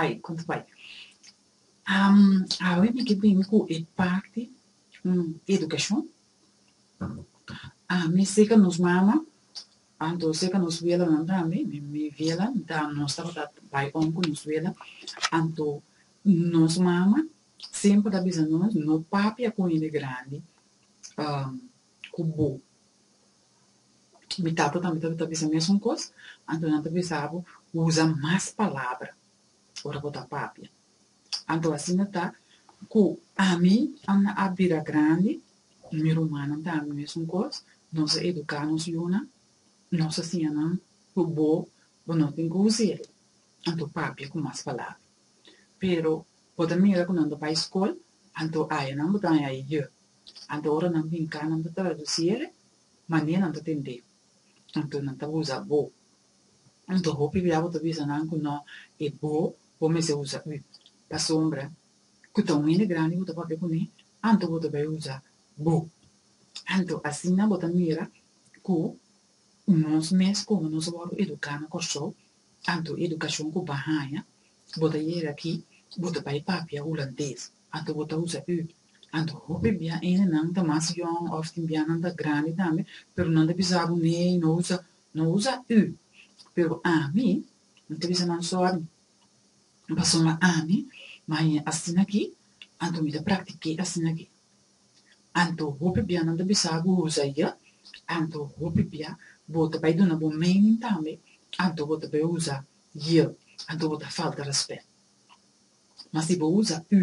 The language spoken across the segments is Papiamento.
Ai, konta bai. Am, awe mi ke bini ku e parti edukashon. Ami seka nos mama, anto seka nos welanan tambe, mi mi wela ta nos tabata bai on ku nos wela, anto nos mama semper ta bisa nos no papia ku hende grandi ku bo. Mi tata tambe ta ta bisa mesun kos, anto nan ta bisa bo usa mas palabra ora bo ta papia. Anto asina ta ku ami ana a bira grandi, i mi rumannan tambe mesun kos, nos a eduká nos yunan, nos a siña nan ku bo bo no tin ku usa el, anto papia ku mas palabra. Pero bo ta mira ku nan ta bai skol, anto aya nan bo ta haña e yë. Anto ora nan binká nan ta tradusí e manera nan ta tendé. Anto nan ta usa bo. Anto hopi bia bo ta bisa nan ku no e bo, bo mester usa ú. Pasobra ku ta un hende grandi bo ta papia kuné, anto bo ta bai usa bo. Anto asina bo ta mira ku nos mes komo nos a wòrdu eduká na Kòrsou, anto edukashon ku bo a haña, bo ta yega ki bo ta bai papia hulandes. Anto bo ta usa ü. Anto hopi bia enenan ta mas yòn òf tin bianan ta grandi tambe, pero nan ta bisa bo nee no usa no usa ü. Pero ami no ta bisa nan sòri pasobra ami maña asina aki, anto mi ta praktik'é asina aki. Anto hopi bianan ta bisa bo usa j. Anto hopi bia bo ta bai duna bo mening tambe, anto bo ta bai usa j. Anto bo ta falta rèspèt. Ma si bo usa ü,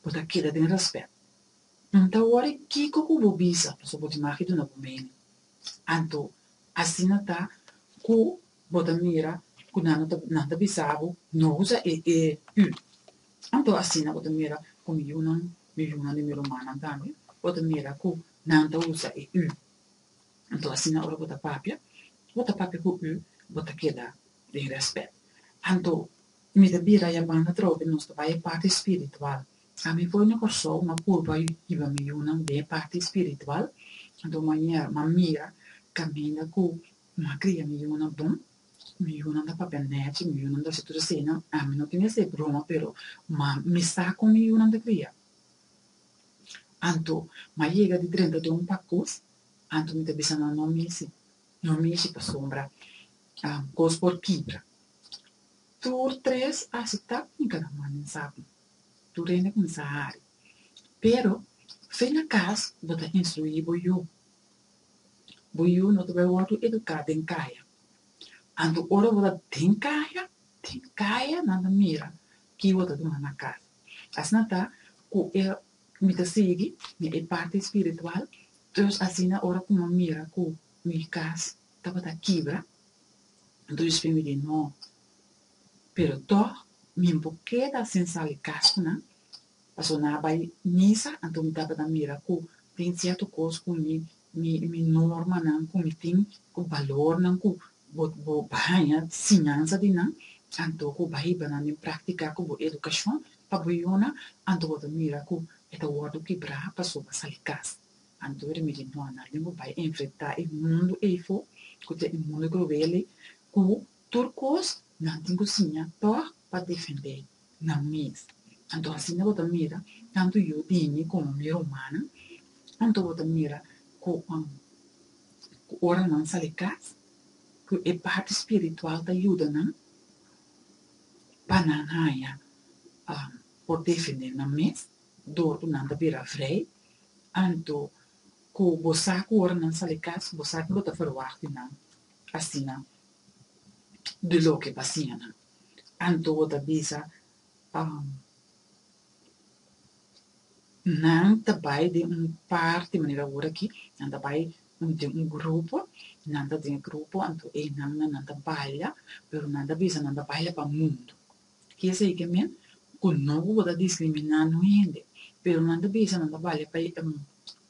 bo ta keda den rèspèt. N ta wòri kiko ku bo bisa pasobra bo tin maki duna bo mening. Anto asina ta ku bo ta mira ku nan no ta nan ta bisa bo, No usa e e ü. Anto asina bo ta mira ku mi yunan, mi yunan di mi rumannan tambe, bo ta mira ku nan ta usa e ü. Anto asina ora bo ta papia, bo ta papia ku ü, bo ta keda den rèspèt. Anto. Y mi ta bira ya banda atrobe y nos ta bay e parti espiritual. A mi poi mi corsou na purba hiba mi yunan den e parti espiritual. Anto manier m'a mira caminda cu mi a cria mi yunan bon. Mi yunan ta papia nechi, mi yunan ta haci tur esayinan. A mi no tin esey broma pero m'a misa con mi yunan ta cria. Anto m'a yega di drenta den un pacus, anto mi ta bisa nan no mishi, no mishi pasobra cos por kibra. Tur tres a aseptá ku mi ta na manda ensabel. Tur hende a kuminsá hari. Pero, fin na kas bo ta instruí bo yu. Bo yu no ta bai wòrdu eduká den kaya. Anto ora bo ta den kaya, den kaya nan ta mira ki bo ta duna na kas. Asina ta ku e mi ta sigui na e parti spiritual, dus asina ora ku mi a mira ku mi kas tabata kibra, Anto Jesús p'e mi di, No, pero tòg mi no por keda sin sali kas ku nan, pasobra nan a bai misa, anto mi tabata mira ku tin sierto kos ku mi mi mi normanan ku mi tin, ku balornan ku bo bo bo haña sinansa di nan, anto ku bo a hiba nan den praktika ku bo edukashon pa bo yonan, anto bo ta mira ku e ta wòrdu kebrá pasobra a sali kas. Anto ri mi di no, nan lo bai a enfrentá e mundu ei fo, ku ta e mundu kruel ei, ku tur kos nan tin ku siña tòg pa defendé nan mes. Anto asina bo ta mira tantu yudínan komo mi rumannan? Anto bo ta mira ku ku ora nan sali kas, ku e parti spiritual ta yuda nan pa nan haña por defendé nan mes dor ku nan ta bira vrei? Anto ku bo sa ku ora nan sali kas bo sa ku lo ta ferwagt di nan, asina di loke pa siña nan. Anto bo ta bisa, Nan ta bai den un parti, manera ora aki, nan ta bai den un grupo, nan ta den e grupo, anto e nannan nan ta baila, pero nan ta bisa nan ta baila pa mundu. Keseki mi ku no ku bo ta diskriminá no hende, pero nan ta bisa nan ta bale pa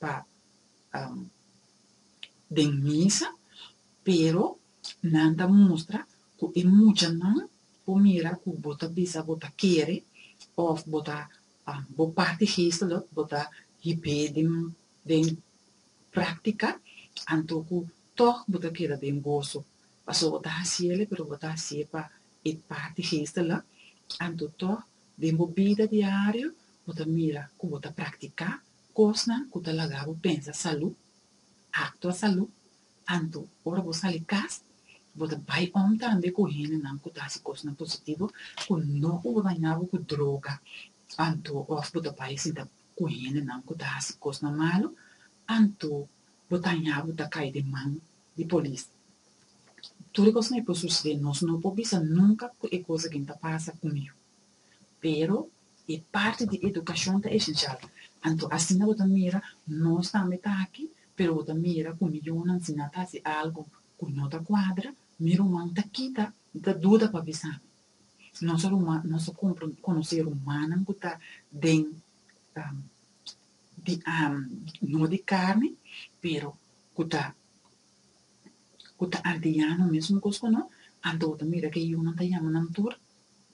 pa den misa, pero nan ta mustra ku e muchanan por mira ku bo ta bisa bo ta kere òf bo ta bo parti geestelik bo ta hipé den den práktika, anto ku tòg bo ta keda den goso, pasobra bo ta hasié pero bo ta hasié pa E parti geestelik, anto tok den bo bida diario bo ta mira ku bo ta praktiká kosnan ku ta laga bo pensa salú, aktua salú, anto ora bo sali kas bo ta bai om tambe ku hendenan ku ta hasi kosnan positivo ku no ku bo dañá bo ku droga anto òf bo ta bai sinta ku hendenan ku ta hasi kosnan malu anto bo ta haña bo ta kai den man di polis. Tur e kosnan e por susede, nos no por bisa nunka ku e kos akin ta pasa kumiu. Pero e parti di edukashon ta esensial, anto asina bo ta mira nos tambe ta aki, pero bo ta mira ku mi yunan si nan ta hasi algu ku no ta kuadra, mi ruman ta kita, mi ta duda pa bisa mi. Nos a ruman, nos a konosé rumannan ku ta den di, no di karni, pero ku ta ku ta ardiano mesmo kos ku no, anto bo ta mira ku e yunan ta yama nan tur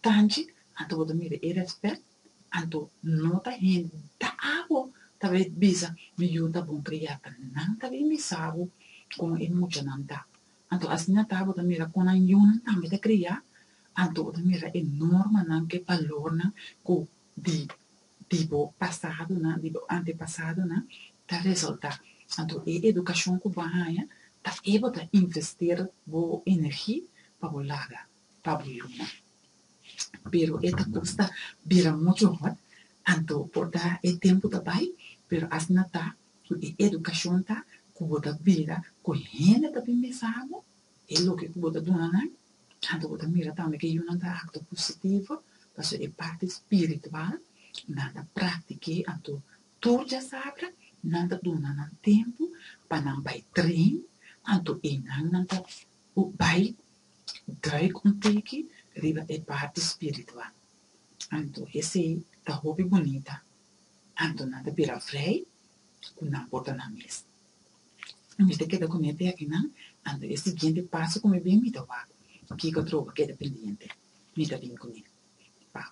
tanchi, anto bo ta mira e rèspèt, anto no ta hende ta abo ta bai bisa mi yu ta bon kria pa nan ta bin bisa bo kon e muchanan ta, anto asina ta bo ta mira kon nan yunan tambe ta kria, anto bo ta mira e normanan ku e balornan ku di di bo pasadonan, di bo antepasadonan, ta resaltá. Anto e edukashon ku bo a haña ta e bo ta investir bo energi pa bo laga pa bo luna. Pero e ta kosta bira muchu hòt, anto por ta e tempu ta bai, pero asina ta ku e edukashon ta ku bo ta bira ku hende ta bin bisa bo E loke ku bo ta duna nan, anto bo ta mira tambe ke yunan ta aktua positivo, pasobra e parti spiritual nan ta praktik'é. Anto tur diasabra nan ta duna nan tempu pa nan bai trein, anto e nan nan ta bai drùik un tiki riba e parti spiritual. Anto esei ta hopi bunita, anto nan ta bira vrei ku nan por ta nan mes. mi ta keda ku mi e tèkninan, anto e siguiente paso ku mi bin mi ta wak kiko atroba keda pendiente, mi ta bin kuné. Pau.